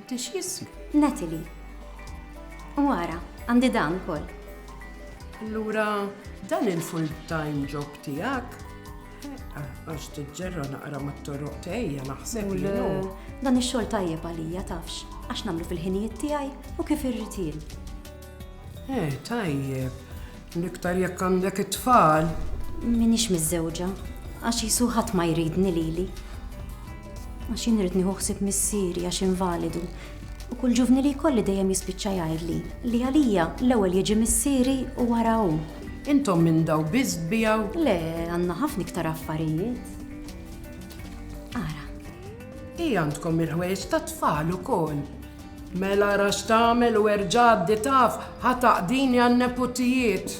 Tix jism? Natalie. U għara, għandi dan kol. Allura, dan il-full-time job tijak? Eh, għax t-ġerra naqra ma t-torroq tejja naħseb li Dan il-xol tajjeb għalija tafx, għax namlu fil-ħinijiet tijaj u kif irritil. Eh, tajjeb. L-iktar jekk għandek it-tfal. Minix miżżewġa, għax jisu ħadd ma jridni lili. Għax jien rrid nieħu ħsieb missieri għax invalidu. U kull ġuvni li jkolli dejjem jispiċċa jgħidli li għalija l-ewwel jiġi missieri u wara hu. Intom minn daw biss bijaw? Le, għandna ħafna iktar affarijiet. Ara. Hi għandkom il-ħwejġ ta' tfal ukoll. Mela ara x'tagħmel u erġa' għaddi taf ħa taqdini għan-neputijiet.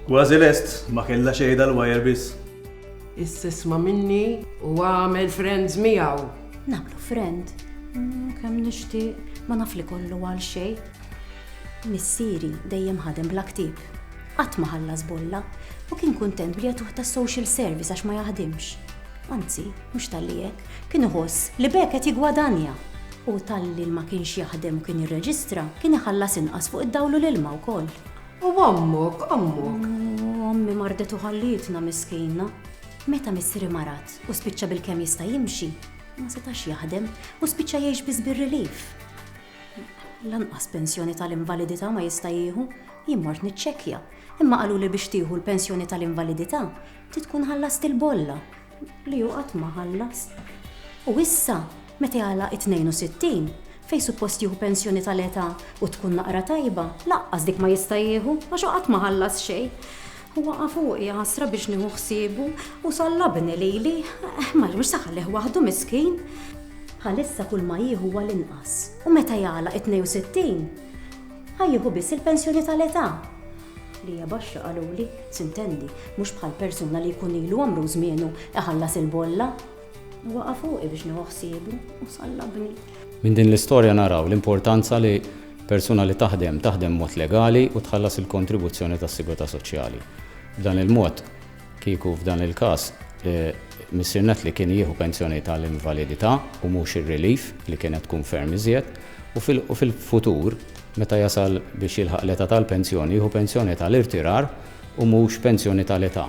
Kważi lest, ma kellha xejn dal-wire biss. Issa isma' minni u agħmel friends miegħu. Nagħmlu friend? Kemm nixtieq, ma naf li kollu għal xejn. Missieri dejjem ħadem bla ktieb. Qatt ma ħallas bolla u kien kuntent bli jagħtuh tas-social service għax ma jaħdimx. Anzi, mhux talli hekk, Kien iħoss li b'hekk qed jiggwadanja. U talli ma kienx jaħdem u kien jirreġistra, kien iħallas inqas fuq id-dawl u l-ilma wkoll. U ommok, ommok? U ommi mardet u ħallietna miskina. Meta missieri marad u spiċċa bilkemm jista' jimxi, ma setax jaħdem u spiċċa jgħix biss bir-relief. Lanqas pensjoni tal-invalidità ma jista' jieħu. Jien mort niċċekkja, imma qaluli biex tieħu l-pensjoni tal-invalidità trid tkun ħallast il-bolla. li hu qatt ma ħallas. U issa, meta jagħlaq it-62, fejn suppost jieħu pensjoni tal-età u tkun naqra tajba, lanqas dik ma jista' jieħu għax hu qatt ma ħallas xejn. U waqa' fuqi ħasra biex nieħu ħsiebu u sallabni lili, eh, ma mhux se ħallih waħdu miskin. Bħalissa kull ma jieħu huwa l-inqas u meta jagħlaq it-62 ħajjieħu biss il-pensjoni tal-età. li hija baxxa qaluli, sintendi, mhux bħal persuna li jkun ilu għamru u żmienu iħallas il-bolla. U waqa' fuqi biex nieħu ħsiebu u sallabni. Minn din l-istorja naraw l-importanza li persuna li taħdem, taħdem b'mod legali u tħallas il-kontribuzzjoni tas-sigurtà soċjali. B'dan il-mod, Kieku f'dan il-każ Missier Nately kien jieħu pensjoni tal-invalidità u mhux ir-relief li kienet tkun ferm iżjed, u fil-futur meta jasal biex jilħaq l-età tal-pensjoni jieħu pensjoni tal-irtirar u mhux pensjoni tal-età.